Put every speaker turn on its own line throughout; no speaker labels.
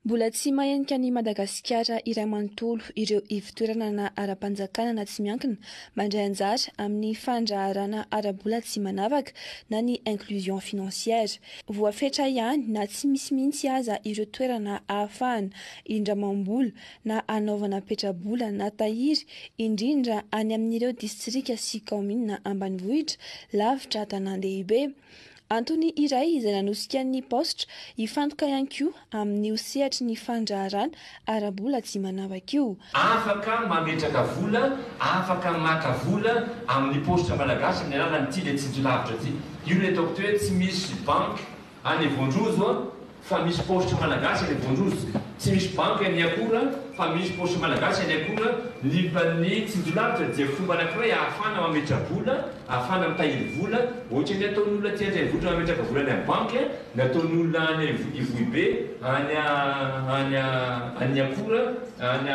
Mbola tsy mahenika an'i Madagasikara iray manontolo ireo ivon-toerana na ara-panjakana na tsy miankina mandray anjara amin'ny fandraharana ara-bola tsy manavaka na ny inclusion financière. Voafetra ihany na tsy misy mihitsy aza ireo toerana ahafahana indramam-bola na hanaovana petrabola na tahiry, indrindra any amin'ireo distrika sy kaominina ambanivohitra, lavitra tanàn-dehibe. Antony iray izay nanosika ny Paositra hifantoka ihany koa amin'io sehatry ny fandraharahana ara-bola tsy manavaka io. Afaka
mametraka vola, afaka maka vola amin'ny Paositra Malagasy amin'ny alalan'ity ilay tsindry lavitra ity. Io ilay ataoko teo hoe tsy misy banky Any Vondrozo a fa misy paositra malagasy any Vondrozo tsy misy banky any akora fa misy paositra malagasy any akora lipa ny tsinjolavitra dia fomba anakiray ahafahana mametra vola ahafahana mitahiry vola ohatrany ataony olona aty andrenivohitra mametraka vola any am banky a ny ataony olona any ivohibe any any any akora any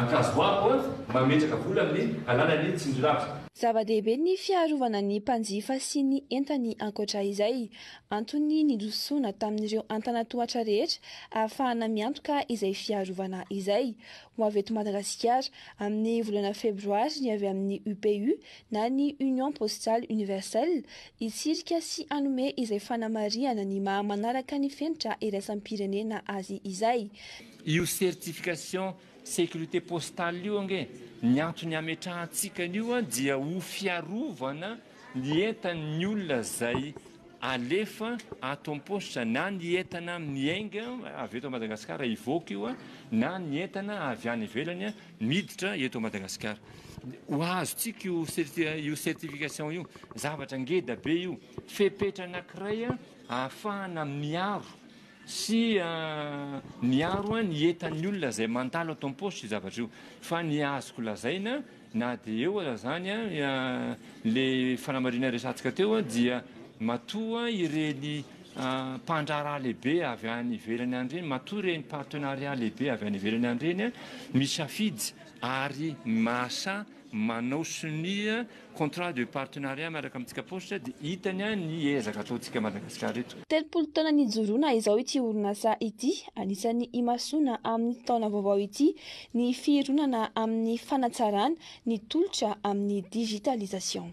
ankazoabo a mametraka vola amin ny alalany tsinjolavitra. Zava-dehibe ny
fiarovana ny mpanjifa sy ny entany ankoatra izay. Antony nidososona tamin'ireo antanatohatra rehetra ahafahana miantoka izay fiarovana izay. Ho avy eto Madagasikara, amin'ny volana febroary ny avy amin'ny UPU na ny Union Postale Universelle hitsirika sy hanome izay fanamarihana ny maha manaraka ny fenitra iraisam-pirenena azy izay. Io
certification Sécurité postale io ange ny antony ametrahantsika an'io an dia ho fiarovana ny entan'ny olona izay alefa ato am-paositra na ny entana amin'ny enga avy eto Madagasikara hivoaka io an na ny entana avy any ivelany an miditra eto Madagasikara ho azontsika io io certification io zavatra ngeda be io fepetra anankiray an ahafahana miaro sy miaro an ny entan'ny olona izay mandalo ato am-paositra io zavatra io. Fa ny azoko lazaina na dia eo aza izany le fanamarihana resatsika teo dia matoa ireny mpandraharaha lehibe avy any ivelany any ireny, matoa ireny partenariat lehibe avy any ivelany any ireny misafidy ary mahasahy manao sonia contrat de partenariat miaraka amintsika paositra dia hitany an ny ezaka ataontsika Madagascar eto. Telopolo taona nijoroana
izao ity orinasa ity, anisan'ny imasoana amin'ny taona vaovao ity ny fironana amin'ny fanatsarana ny tolotra amin'ny digitalisation.